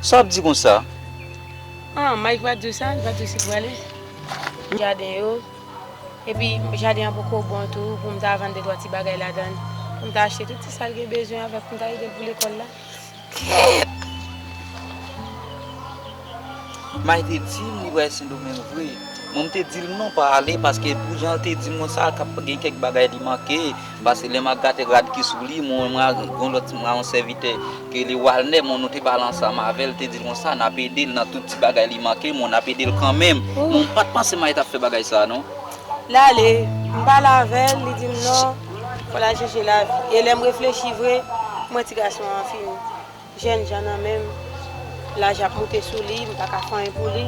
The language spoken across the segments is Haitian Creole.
Sa wap di konsa? An, Mike pa diw sa, li pa diw si pou ale? M jaden yo, epi jaden an poko bon tou pou m ta vann de twa ti bagay ladann, pou m ta achte tout ti sa l gen bezwen avèk pou m ta edel pou lekòl la. Mike te dim li pral sendomeng vre mwen mte dil non pa ale paske pou janl te dim mwen sa kap gen kèk bagay li manke pase lè map gate rad ki sou li mwen wè gon lòt mwen yon sèvitè ki rele walnè mwen nou te pale ansanm avèl te dil konsa nap edel nan tout ti bagay li manke mwen nap edel kanmenm mwen mpat panse Mike tap fè bagay sa non. Lale mpale avèl li dim non fòl al chèche lavi e lèm reflechi vre mwen ti gason an fini. Jènjan nan menm, laj ap moute sou li, m pa ka fè anyen pou li,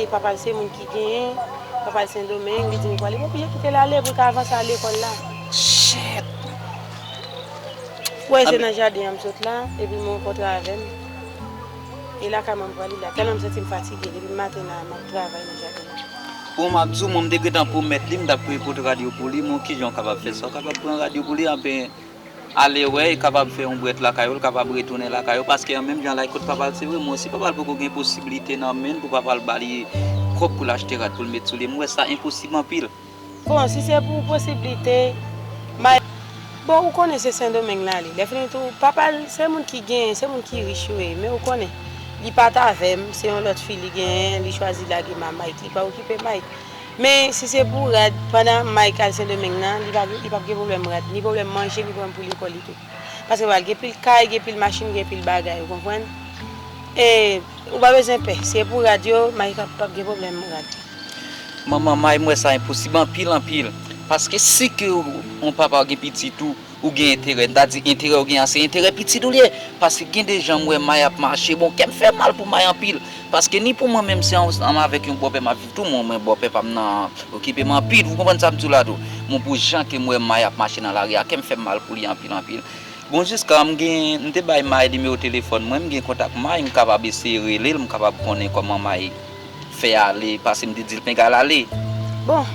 e papa l se moun ki genyen, papa l Sendomeng, li di m kwa li, m oblije kite l ale pou l ka avanse al lekòl la. Shit! Ou wè se nan jaden an m sot la, epi m rankontre avè l, e lakay mwen m pral li la, tèlman m santi m fatige, depi m maten la, m ap travay nan jaden an. Bon, m ap di w, mwen m te gentan pwomèt li, m t ap pote rad yo pou li, m wè w kijan w kapab fè sa, w kapab pran rad yo pou li, anben. Ale wè e kapab fè yon brèt lakay ou l kapab retounen lakay ou paske an menm jan Laykot pa pral se vre mwen osi pa pral poko gen posiblite nan men l pou pa pral ba li kòb pou l achte rad pou l met sou li mwen wè sa enposib anpil. Bon si se pou posiblite may bon ou konnen se sendomeng l ale lè fini tou papa l se moun ki genyen se moun ki rich yo ye men ou konnen li pa t avè m se yon lòt fi li genyen li chwazi lage mamay li pa okipe may. Men si se pou rad, pandan Mike al Sendomeng nan, li pa li pap gen pwoblèm rad, ni pwoblèm manje, ni pwoblèm pou lekòl li tou. Paske pral gen pil kay, gen pil machin, gen pil bagay, ou konprann? E, ou pa bezwen pè, si e pou rad yo, Mike ap pap gen pwoblèm rad. Manman Mike, m wè sa enposib anpil anpil. Paske si ke yon papa gen pitit ou. Ou gen enterè, m ta di enterè ou gen an se enterè pitit ou l ye, paske gen de jan m wè May ap mache, bon kè m fè mal pou May anpil, paske ni pou mwen menm se ansanm avèk yon bòpè m ap viv tou, mwen mwen bòpè pa m nan okipe m anpil, ou konprann sa m di w la tou, bon pou jan ke m wè May ap mache nan lari a, kè m fè m mal pou li anpil anpil, bon jiska m gen, m te bay May nimewo telefòn mwen, m gen kontak May, m kapab eseye rele l, m kapab konnen kòman May. fè ale pase m te dil pinga l ale bon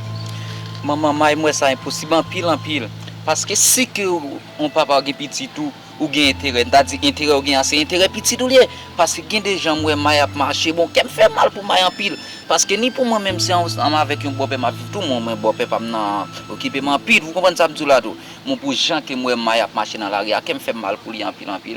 manman may m wè sa enposib anpil anpil paske si ke yon papa ou gen pitit ou ou gen enterè m ta di enterè ou gen a se enterè pitit ou l ye paske gen de jan m wè may ap mache bon kè m fè mal pou may anpil paske ni pou mwen menm se ansanm avèk yon bòpè m ap viv tou mwen mwen bòpè pa m nan okipe m anpil wou konprann sa m di w la tou bon pou jan ke m wè may ap mache nan lari a kè m fè m mal pou li anpil anpil.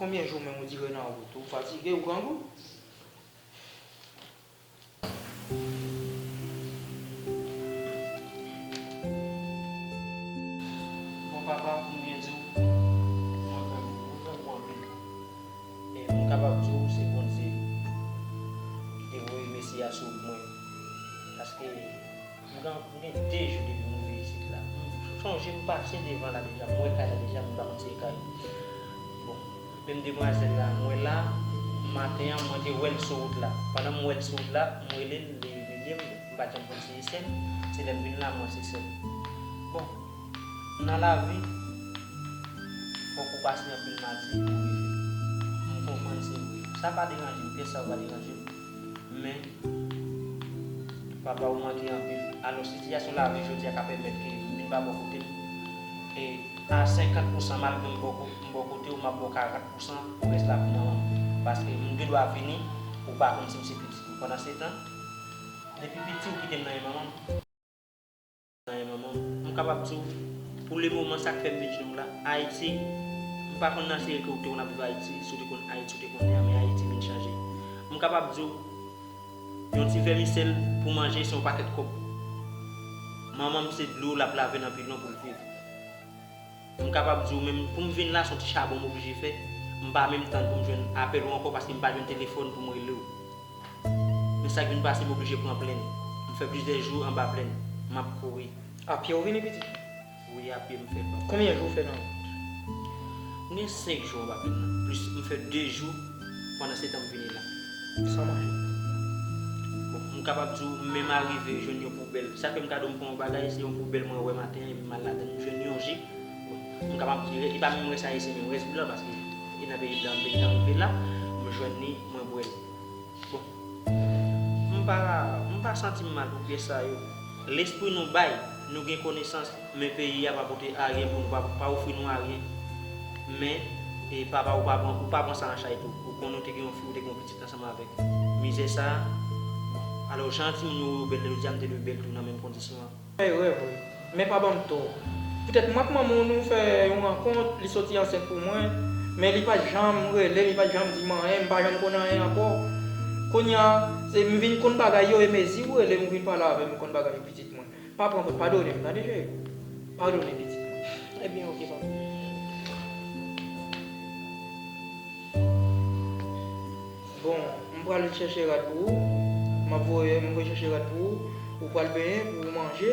Konbyen jou menm ou dire nan wout? Ou fatige? Ou grangou? Bon papa pou m byen di w, mwen fè mwen fè gwo anpil. E m kapab di w se Bondye ki te voye Mesi a sou wout mwen. Paske. M gen m gen 2 jou depi m rive isit la. M sonje m pase devan la deja, m wè kay la deja men m pa konn si e kay ou. Bon, menm demwazèl la m wè la, maten an mwen te wè l sou wout la. Pandan m wè l sou wout la, m rele l, li rele m, m pa t janm konn si e sè m, se lè m vin la m wè se sè m. Bon, nan lavi, fòk ou pase anpil madi pou w rive. M konprann se vre. Sa pa deranje m, pyès sa yo pa deranje m. Men, papa ou manke anpil. Alò, sitiyasyon lavi jodi a ka pèmèt ke m vin ba bò kote m. E, a senkant pousan, malgre m bò m bò kote ou, m ap ba w karant pousan pou rès la pou manman m. Paske, m gen dwa vini, ou pa konn si m se pitit ou. Pandansetan, depi piti ou kite m nan men manman m. Ayi manman, m kapab di w, pou le moman sa k fè m vin jwenn w la, Ayiti, m pa konn nan seri ke w te konn ap viv Ayiti, si w te konn Ayiti w te konnen an, men Ayiti vin chanje. M kapab di w, yon ti vèmisèl pou manje se yon pakèt kòb. Manman m se dlo l ap lave nan bidon pou l viv. M kapab di w menm pou m vin la son ti chabon m oblije fè, m pa menm tann pou m jwenn apèl ou ankò paske m pa jwenn telefòn pou m rele w. Men sa k vin pase m oblije pran plenn. M fè plizyè jou anba plenn, m ap kouri. Apye ou vini pitit? Wi apye m fè l papa. Konbyen jou ou fè nan wout? M gen 5 jou anba plenn nan plis m fè 2 jou. Pandan se tan m vini la. San manje. Bon, m kapab di w menm arive jwenn yon poubèl. Sa fè m kado m pran yon bagay, se yon poubèl mwen wè maten an epi m al ladan l. M jwenn yon jip. Bon, m kapab di li pa menm rès ayisyen men rès blan paske e nan peyi blan m te gentan rive la. M jwenn li, mwen bwè l. Bon. M pa m pa santi m mal pou pyès sa yo. Lespri nou bay, nou gen konesans, men peyi a pa pote aryen pou nou, pa ofri nou aryen. Men, e papa ou pa pran, ou pa pran sa an chay tou. Ou konnen ou te gen yon fi, ou te gen yon pitit ansanm avèk. Mizè sa a, bon, alò jan timoun yo wè yo bèl jodi a, m te dwe bèl tou nan menm kondisyon an. Fè rèv wi. Men pa banm tò. Poutèt mwen ak manman w nou fè yon rankont, li soti ansent pou mwen, men li pat janm rele m, li pat janm di m anyen, m pa janm konn anyen ankò. Kounya, se m vin konn bagay yo e mezi ou rele m ou vin pale avè m ou konn bagay yo pitit mwen. Pa pran kont, padone m tande cheri. Padone pitit mwen. Ebyen ok papa. Bon m pral chèche rad pou ou Map voye m voye chèche rad pou ou Ou pral benyen pou ou manje.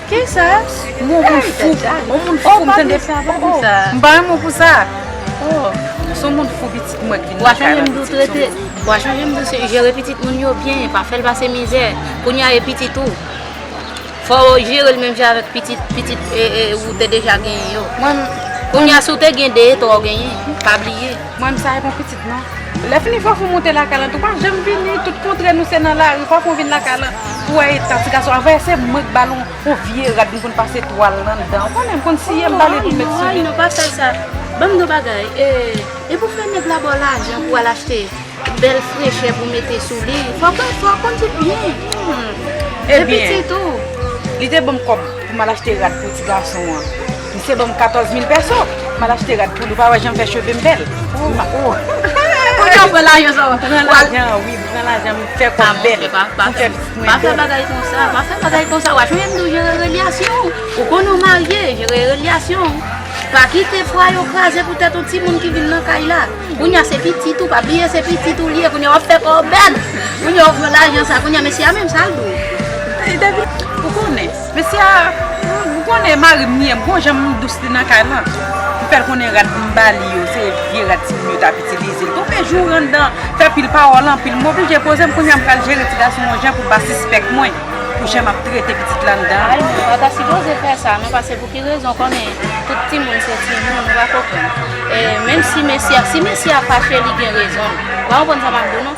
Kisa? M on moun fou. On moun fou m tande sa pa gen sa. M pa gen mo pou sa. Oh ou son moun fou pitit mwen k vin nan kay la pitit son moun fou. Wa chanje m dous jere pitit moun yo byen pa fèl pase mizè kounya e pitit ou fò ou jere l menm jan avèk pitit pitit ou te deja genyen yo. Kounya si w te gen 2 e 3 ou genyen pa bliye. Mwen m sa e bon pitit. Non. Lè fini fòk ou moute lakay lan tou. Pa janm vini tout kontre nou se nan lari. Fòk ou vin lakay lan pou wè eta ti gason. Avè se mwen k ba l yon vye rad m konn pase twal nan dan. Ou konnen m konn siye m ba li pou l met sou li. Tonton Ann non pa fè sa. Ban m yon bagay. E pou fè nèg la ba w lajan pou w al achte bèl frechè pou w mete sou li. Fòk ou fè kondwit byen. Ebyen. Depi pitit ou. Li te ban m kòb pou m al achte rad pou ti gason an. Misye banm 14 mil pèso. Mal achte rad poul ou pa wè janm fè chevem bèl. Kounye a ou pran lajan sa ou pran lajan wi m pran lajan m fè kòm bèl m fè pitit mwen bèl. Pa fè bagay konsa pa fè bagay konsa wap jwenn ou jere relyasyon ou. Ou konn ou marye jere relyasyon ou. Pa kite pwa yo kraze pou tèt yon timoun ki vin nan kay la. Kounye a se pitit ou pa bliye se pitit ou li ye kounye a wap fè kòw bèl. Kounye a ou pran lajan sa kounye a mesye a menm sal di w. Ou konnen. Mesye a, m konnen mari m li, m gon jan m dous li nan kay lan. M fè l konnen rad m ba li yo, se vye rad timoun yo t ap itilize. L tonbe jou w anndan, fè pil pawòl anpil. M oblije poze m, kounye a m pral jere ti gason yon jan pou l pa sispèk mwen pou jan m ap trete pitit la anndan an. Ay non, pa ta sipoze fè sa non, pase pou ki rezon konnen tout timoun se timoun, ou pa konprann. E menm si mesye a, si mesye a fache li gen rezon l. Ou pa konprann sa m ap di w non.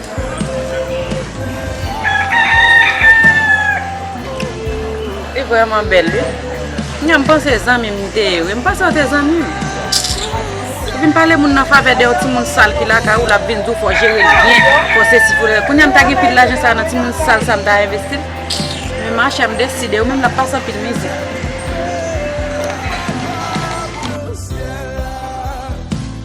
Li vreman bel wi. Knya m panse zanmim li te ye wi. M panse yo te zanmim. Ou vin pale moun nan favè de yon timoun sal ki lakay ou lap vin di w fò jere l byen, fò sesi fò rela. Kounya m ta gen pil lajan sa nan timoun sal sa m ta envesti l. Men machè m deside ou menm lap pase anpil mize.